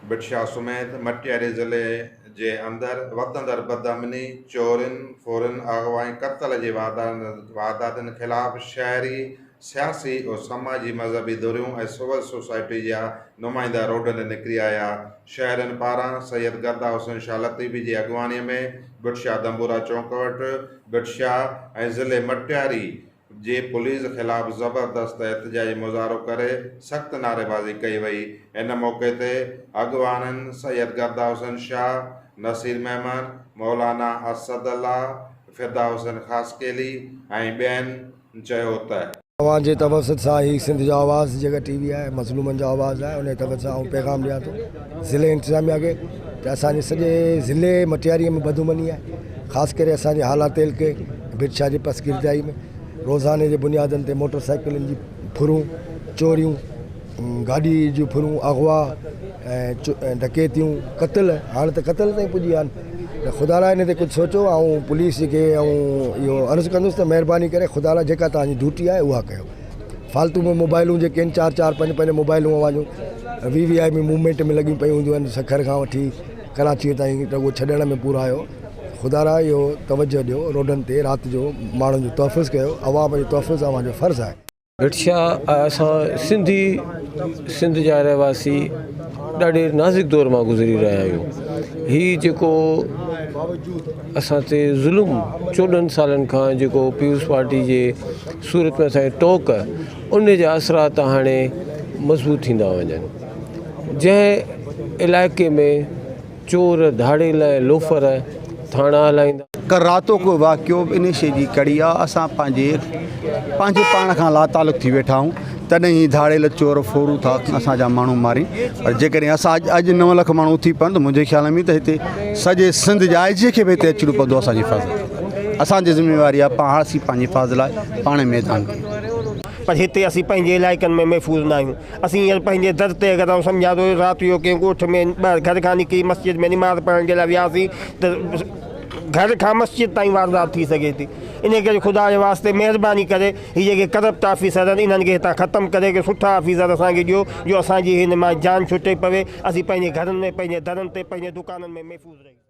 بٽشاهه سميت مٽياري ضلعي جي اندر وڌندڙ بدامني، چورين، ڦورين، اغوا ۽ قتل جي وارداتن خلاف شهري سياسي ۽ سماجي مذهبي ڌريون ۽ سول سوسائٽي جا نمائندا روڊن تي نڪري آيا. شهرين پاران سيد گردا حسين شاهه لطيفي جي اڳواڻي ۾ ڀٽ شاهه دنبورا چونڪ وٽ ڀٽ شاهه ۽ ضلعي مٽياري جي پوليس خلاف زبردست احتجاجي مظاهرو ڪري سخت نعريبازي ڪئي وئي. ان موقعي تي اڳواڻن سيد گردا حسين شاهه، نصير ميمڻ، مولانا اسد الله، فدا حسين خاصخيلي ۽ ٻين، چيو ته. اوهان جي توسط سان هي سنڌ جو آواز جيڪا ٽي وي آهي مظلومن جو آواز آهي انهي توسط سان آئون پيغام ڏيان ٿو ضلعي انتظاميا کي ته اسان جي سڄي ضلعي مٽياري ۾ بدامني آهي خاص ڪري اسان جي هالا تيل کي برڇا جي پسگردائي ۾ روزاني جي بنيادن تي موٽر سائيڪلن جي ڦرون چوريون گاڏي جون ڦرون، اغوا ۽ ڊڪيتيون، قتل هاڻ ته قتل تائين پڄي ويا آهن ته خدا لاء ان تي ڪجهه سوچو آئون پوليس جي کي اهو عرض ڪندس ته مهرباني ڪري خدا لاء جيڪا توهان جي ڊيوٽي آهي اها ڪيو فالتو ۾ موبائلون جيڪي آهن چار چار پنج پنج موبائلون اوهان جون V V I P movement ۾ لڳيون پيون هونديون آهن سکر کان وٺي ڪراچي تائين ته اهو ڇڏڻ ۾ پورا آهيو خدا لاء اهو توجه ڏيو روڊن تي رات جو ماڻهن جو تحفظ ڪيو عوام جو تحفظ اوهان جو فرض آهي ڀٽشاھ ۽ اسان سنڌي سنڌ جا رهواسي ڏاڍي نازڪ دور مان گذري رهيا آهيون هي جيڪو اسان تي ظلم چوڏهن سالن کان جيڪو پيپلز پارٽي جي صورت ۾ اسانکي ٽوڪ ان جا اثرات هاڻي مضبوط ٿيندا وڃن جنهن علائقي ۾ چور، ڌاڙيل ۽ لوفر ٿاڻا هلائيندا. ڪراتو ڪو واقعو به انهي شيء جي ڪڙي آ. اسان پنهنجي پنهنجي پاڻ کان لاتعلق ٿي ويٺا آهيون. تڏهن هي ڌاڙيل چور ڦورون ٿا اسان جا ماڻهو مارين. پر جيڪڏهن اسان اڄ نو لک ماڻهو اٿي پون ته منهنجي خيال ۾ ته هتي سڄي سنڌ جي آء جي کي به هتي اچڻو پوندو اسان جي حفاظت لاء. اسان جي ذميواري آ پاڻ اسين پنهنجي حفاظت لاء پاڻ ميدان ۾. پر هتي اسين پنهنجي علائقن ۾ محفوظ ناهيون. اسين هينئر پنهنجي در تي اگر آئون سمجهان ٿو رات جو ڪنهن ڳوٺ ۾ ٻاهر گهر کان نڪري مسجد ۾ نماز پڙهڻ جي لاء وياسين ته گهر کان مسجد تائين واردات ٿي سگهي ٿي ان ڪري خدا جي واسطي مهرباني ڪري هي جيڪي ڪرپٽ آفيسر آهن انهن کي هتان ختم ڪري ڪي سٺا آفيسر اسان کي ڏيو جو اسان جي هن مان جان ڇٽي پوي اسين پنهنجي گهرن ۾ پنهنجي درن تي پنهنجي دڪانن ۾ محفوظ رهي سگهون